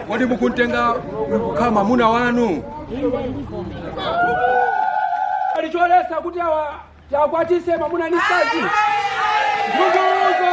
Kodi mukumtenga kukhala mwamuna wanu? Pali choletsa kuti awa tiwakwatitse mwamuna ndi mkazi. Mvumbuluzo.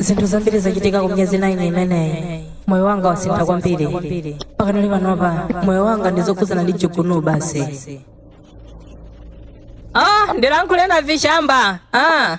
zinthu zambiri zachitika ku miyezi 9 imeneyi moyo wanga wasintha kwambiri pakanali panopa moyo wanga ndi zokhudzana ndi chigunu basi ah ndilankhule na vishamba ah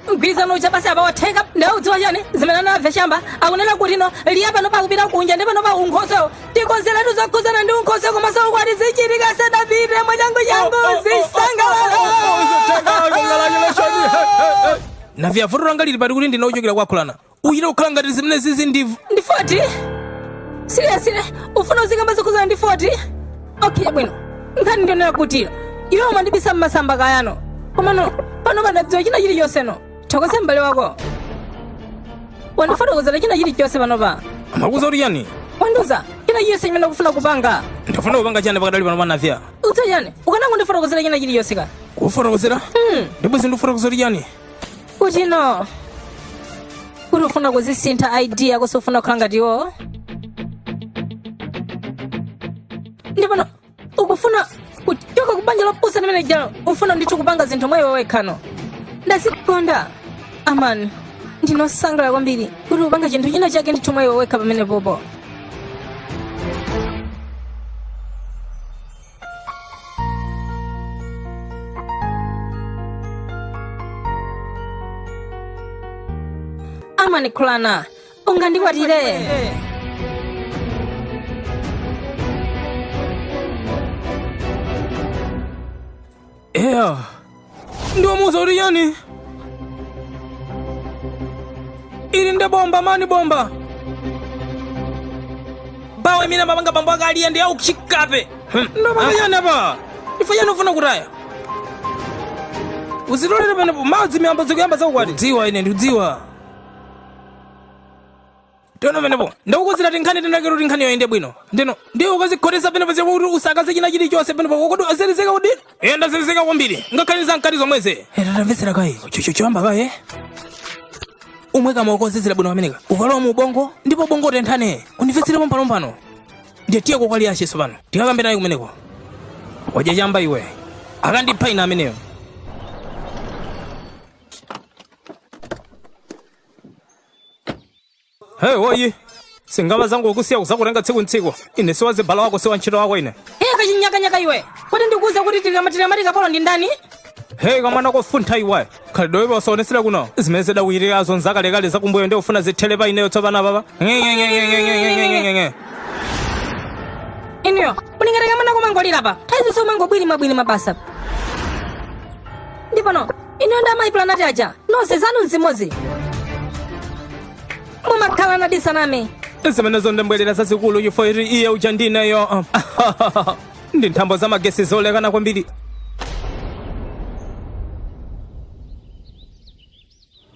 mgwirizano uja basi apa watheka nde udziwa chani zimene navya chamba akunena kuti no liya panopa akupita kunja ndi panopa unkhoswewo tikonzeretu zokhuzana ndi unkhoswe komanso ukwati zichitike asadapite mwachangu changu zisangalala navya vuto langa lili pati kuti ndine ochokera kwa khurana uchite kukhala ngati zimene zizi ndi ndi 40 siriyasire ufuna uzikamba zokhudzana ndi 40 okay bwino nkhani ndionera kutira iwe umandibisa masamba kayano komano panopa ndadziwa china chilichonse no thokoze m'bale wako wandifotokozera china chilichonse panopa amakuuza kuti chani wandiuza china chilichonse chimene ukufuna kupanga ndifuna kupanga chani pakadali panopa navya udziwa chani ukanangondifotokozera china chilichonse ka kufotokozera ndipo zindifotokozera kuti chani kuti no kuti ufuna kuzisintha id yako sufuna kukhala ngati iwowo ndi pano ukufuna kuchoka kubanja lopusa limene lijalo ufuna ndithu kupanga zinthu mwa iwe wekha no ndazikonda amani ndine osangalala kwambiri kuti ukupanga chinthu china chake ndithu mwa iwe wekha pamenepopo amanikhulana ungandikwatire eya ndiwamuuza kuti yani ili nde bomba mani bomba bawe mina mabanga bambo akaliya ndi aukuchikape ndamanga yani apa ife yani ufuna kutaya uzitolere penepo madzi miyambo zikuyamba za ukwati dziwa ine ndikudziwa teno penepo ndakukonzera tinkhani tinakero kuti nkhani iyende bwino ndino ndiye ukazikhotetsa penepo zako kuti usakaze china chilichonse penepo kokuti wazelezeka kuti iye ndazelezeka kwambiri ngakhale za mkati zomweze tandimvetsera kaye choyamba kaye umwe kamaheu kozizira bwino pamene kakukalowa mu ubongo ndipo ubongo utenthane undimvetsere pompanompano ndiye tiyeko kwa liyache tsopano tikakambe naye kumeneko wadya chamba iwe akandipha ine ameneyo Hey, woyi sungamve zanga kukusiya kuzakutenga tsiku ndi tsiku ine si wazibala wako si wantchito wako ine Hey, kachinyakanyaka iwe kodi ndikuuza kuti tikamatira mati kapolo ndi ndani hey kamwana kofuntha iwe khalidwe iwe usaonetsere kuno zimene zidakuchitikazo nzakalekale zakumbuyo ndi ufuna zithere pa ineyo tsopano papa ng'eng'eng'eng'eng'eng'eng'eng'eng'e inuyo ulingati kamwana kumangolira pa nthawi zonse umangobwirima bwirima basa ndi pano ineyo nda mayi planati aja nonse zanu ndi zimodzi mumakhala nadisaname zimene zondembwerera zazikulu chifukwa choti iye uja ndineyo ndi nthambo za magesi zolekana kwambiri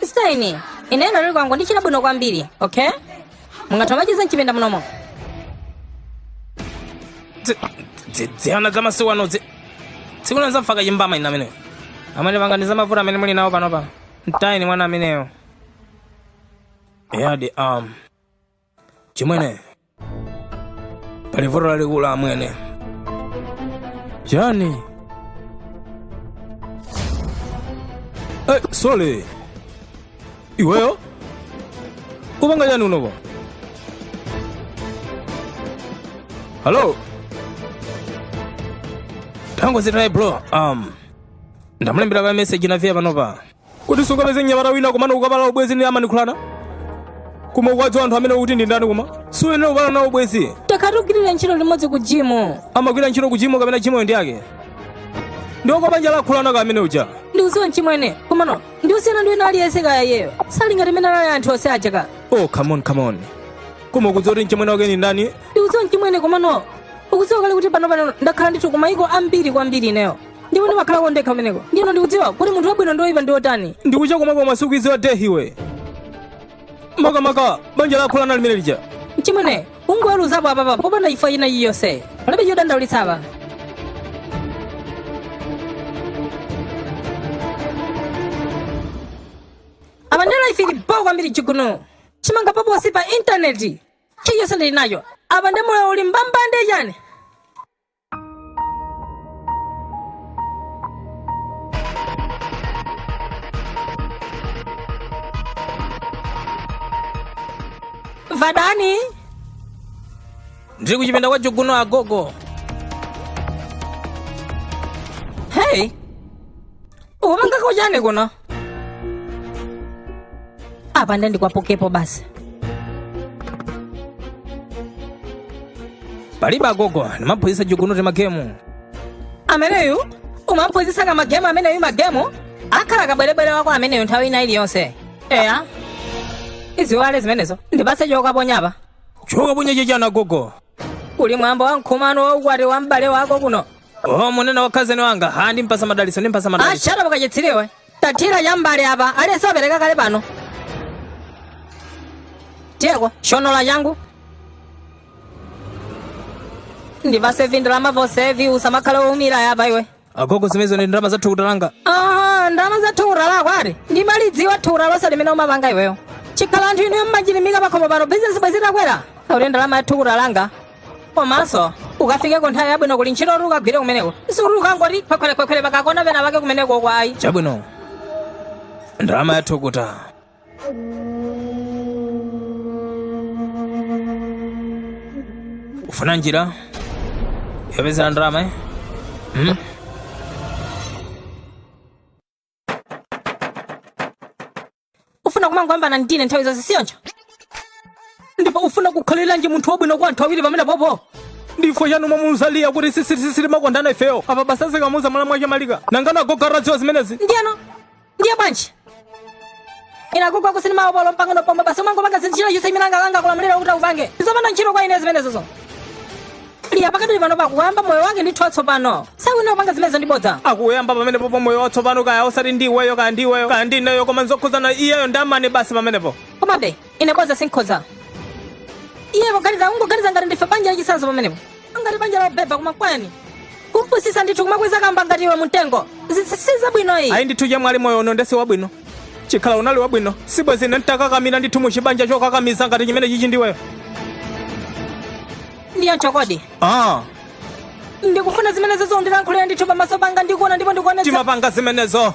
sitaini ine ndikhala ndili kwangu ndichita bwino kwambiri okay mungatha machiza mchipinda munomo dziana za masiku ano dzi- tsiku lina zamfaka chimbama ina ameneyo amene panganizana mavuto amene muli nawo panopa mtayeni mwana ameneyo yadi um chimwene pali vuto lalikulu amwene chani hey, sole iweyo kupanga chani unopo halo tango zitaye bro um ndamulembera ka message nafiya panopa kuti usapeze mnyamata wina komano ukupala ubwezi ndi a Manikhulana koma ukuwadziwa anthu amene ukuti ndi ndani koma suyenera kupala nawo ubwezi takhala tikugwirira ntchito limodzi ku jimu amagwira ntchito ku jimu kapena jimuyo ndi yake ndi wa kubanja la Khulana ka amene uja ndikudziwa mchimwene komano ndi wosiyana ndi wina aliyense ka iyeyo sali ngati mmene anali anthu onse aja ka oh come on come on koma ukudziwa kuti mchimwene wake ndi ndani ndikudziwa mchimwene komano ukudziwa kale kuti pano pano ndakhala ndithu ku mayiko ambiri kwambiri ineyo ndipo ndimakhala kwa ndekha kumeneko ndiye ino ndikudziwa kuti munthu wabwino ndi woyipa ndi wotani ndikucha komwe koma sukuwadziwa hey iwe makamaka banja la Khulana limene lija mchimwene ukungoweruzapo apapa popanda chifukwa china chilichonse palibe chodandaulitsa apa apa ndela ife ili bho kwambiri chiguno chimanga paposi pa intaneti chilichonse ndili nacho apa ndi moyo uli mbambande chani vadani ndiri kuchipinda kwa jogono agogo hei ukupanga chani kuno apa nde ndikwapukepo basi palibe agogo ndimamphunzitsa Chiguno timagemu ameneyu umamphunzitsa ka magemu ameneyu magemu akhala kabwerebwere wako ameneyu nthawi ina iliyonse eya iziiwale zimenezo ndipatse chokaponya apa chokaponya chichani agogo kuli mwambo wa mkhumano wa ukwati wa m'bale wako kuno Oh, mukunena wa khazeni wanga ha ndimpatsa madalitso ndimpatsa madalitso ashara bwa kachitsiru iwe taterapa chambali apa aliyense wapereka kale pano tiyeko solola changu ndipatse vindu la mavosevi usamakhale woumira apa iwe agogo zimenezo ndi ndalama za thukuta langa Ah, ndalama za thukuta lako ati ndimalidziwa thukuta lonse limene umapanga iweyo chikhala kuti anthu inuyo mmachilimika pakhomo pano bizinesi bwezi takwera auli ndalama ya thukuta langa komanso ukafike ko nthawi yabwino ku ntchito kuti ukagwire kumeneko sikuti ukangoti khwekhwerekhwekhwere pakakona pena pake kumeneko kwaya chabwino ndalama yathukuta ufuna njira yopezera ndalama eh? hmm? ufuna kumangoyambana ndine nthawi zonse si choncho ndipo ufuna kukhaliranji munthu wabwino kwa anthu awiri pamene popo ndipo inu mwamuuza Liya kuti sisirisisiri makondana ifeyo apa basa zikamuuza mwana mwake malika nangano agogo atadziwa zimenezi ndiyeno ndiye bwanji ina kugwa kusini mawo polo mpangano pomwe basi umangopanga zinthu china chonse iminanga langa kulamulira kuti upange zopanda ntchito kwa ine zimenezozo Liya pakadali pano pakuyamba moyo wake ndi thotso pano sakuyenera kupanga zimenezo ndi bodza akuyamba pamene popo moyo watsopano kaya osati ndi iweyo kaya ndi iweyo kaya ndi ineyo koma nzokhuzana iyeyo ndi Amani basi pamenepo komabe ine bodza sinkhoza iye poganiza ungoganiza ngati ndife banja lachisanzo pamenepo ngati banja la ubhebha koma kwani kumpusisa ndithu kumakweza kamba ngati iwe mumtengo zisisiza bwino iyi ayi ndithu chamwali moyo uno nde si wabwino chikhala kuti unali wabwino sibwenzi ine nditakakamira ndithu muchibanja chokakamiza ngati chimene chichi ndiweyo ndiye mchikondi ah. ndikufuna zimene uzondilankhulira ndithu pamaso panga ndikuona ndipo ndikuonetsa timapanga zimenezo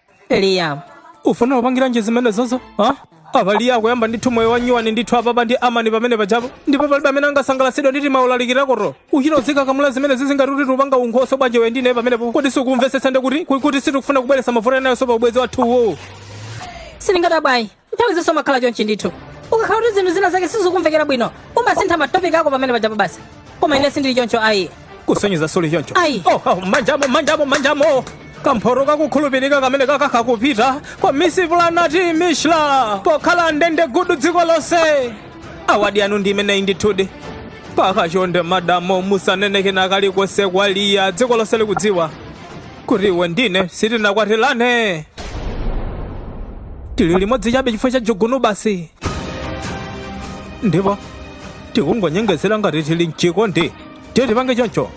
Liya ufuna kupangiranji zimenezozo ha? apa Liya akuyamba ndithu moyo wanyuwani ndithu apapa ndi Amani pamene pajapo ndipo palibe amene angasangalatsidwa ndi timaulaliki takoto uchita uzikakamba zimenezizi ngati kuti upanga unkhoso bwanji iwe ndi ine pamenepo kodi sukumvetsetsa ndikuti kuti sitikufuna kubweretsa mavuto enayonso pa ubwenzi wathu uwowo sindingadabwe ayi nthawi zonse umakhala chonchi ndithu ukakhala kuti zinthu zina zake sizikumvekera bwino umasintha matopiki ako pamene pajapo basi koma ine sindili choncho ayi kusonyeza suli choncho Ayi. oh, oh, manjamo manjamo manjamo kamphoto kakukhulupirika kamene kaka kakupita kwa misi planati mishla pokhala ndende gudu dziko lonse awadi yanu ndi imeneyi ndithudi koma chonde madamo musanene kena kalikonse kwa Liya dziko lonse likudziwa kuti iwe ndi ine sitinakwatirane tili limodzi chabe chifukwa cha Jugunu basi ndipo tikungonyengezera ngati tili mchikondi tiye tipange choncho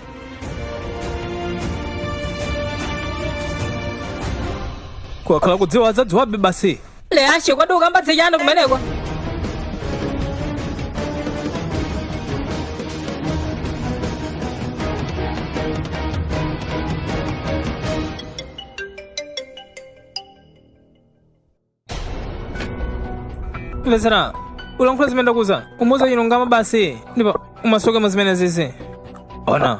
kukakhala kudziwa adzadziwabe basi leashe kodi ukamba za chani kumeneko mvetsera ulankhula zimene ndakuuza umuuze chilungamo basi ndipo umasuke mu zimenezizi ona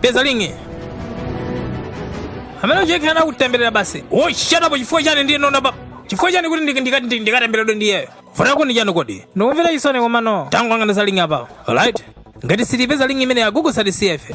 peza ling'i amene uja akutemberera basi wochitapo chifukwa chani ndi nona pa chifukwa chani kuti ndika- ndika- ndika- ndikatemberedwe ndi iyeyo vuta kuti chani kodi ndikumvera chisoni komano tangwangana za ling'i apa alright ngati sitipeza ling'i imene yagugu satisiyefe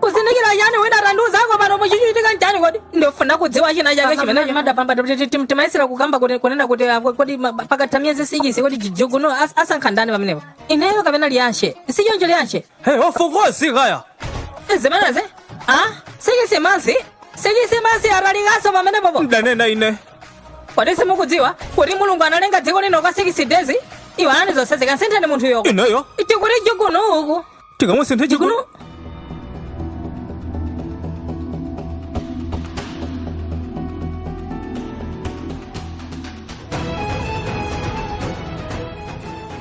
kuzindikira chani wina tandiuzako pano muchichitika nchani kodi ndifuna kudziwa china chake chimene chimadapamba timayesera kukamba kuti kunena kuti ah, kodi ma- pakatha miyezi sikisi kodi jijuguno as- asankha ndani pamenepo ineyo kapena liyanshe sichoncho liyanshe Hey, of course, kaya. zimenezi a sikisi masi sikisi masi atalikaso pamenepopo Mdanena ine. kodi simukudziwa kuti mulungu analenga dziko lino kwa sikisi dezi iwanani zonse zikamsintheni munthu yoko Ineyo. tikuti juguno uku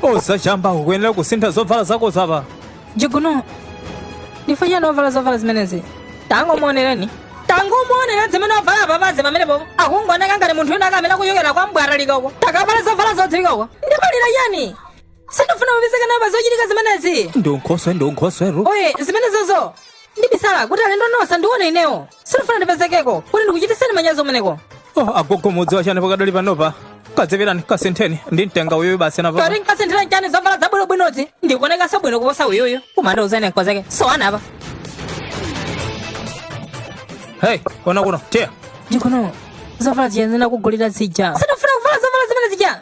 osachamba ukuyenera kusintha zovala zako zapa jiguno ndifanyira novala zovala zimenezi tangomuonereni tangomuonera zimene wavala papazi pamenepo akungoneka ngati munthu wina akamene kuchokera kwa mbwaralikoko takavala zovala zodzilemekeza ndimalipira ndani sindifuna kupezeka nawo pa zochitika zimenezi ndi unkhoswe ndi unkhosweru oye zimenezozo ndibisala kuti alendo nonse ndione inewo sindifuna ndipezekeko kuti ndikuchitiseni manyazi umeneko oh, agogo mudziwa chani pakadali panopa kazipitani kasintheni ndi mtenga uyuyu basi napa kati ndikasinthire nchani zovala zabwinobwinozi ndikuonekanso bwino kuposa uyuyu kumanda uzene nkozeke so anapa hey kona kuno tiyeni kuno zovala zija ndinakugulira zija sindifuna kuvala zovala zimene zija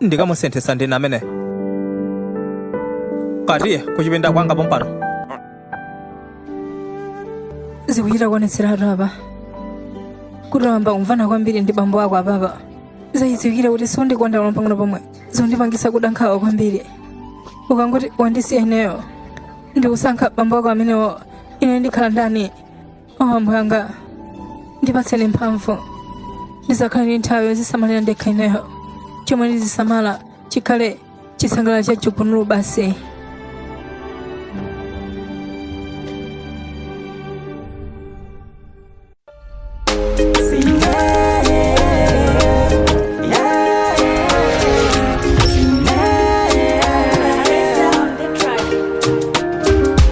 ndikamusinthitsa ndine amene tiye kuchipinda kwanga pompano zikuchita kuonetseratu apa kuti wayamba kumvana kwambiri ndi bambo ako apapa zadziwikiratu kuti siundikonda olo pang'ono pomwe zondipangitsa kuda nkhawa kwambiri ukangoti wandisiya ineyo ndikusankha bambo ako amenewo ine ndikhala ndani o ambuye anga ndipatseni mphamvu ndizakhale ndi nthawi yozisamalira ndekha ineyo chomwe ndizisamala chikhale chisangalalo cha Chikunulu basi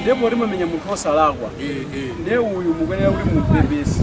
ndiye poti mwamenya munthu osalakwa ndiye uyu mukuyenera kuti mumpepese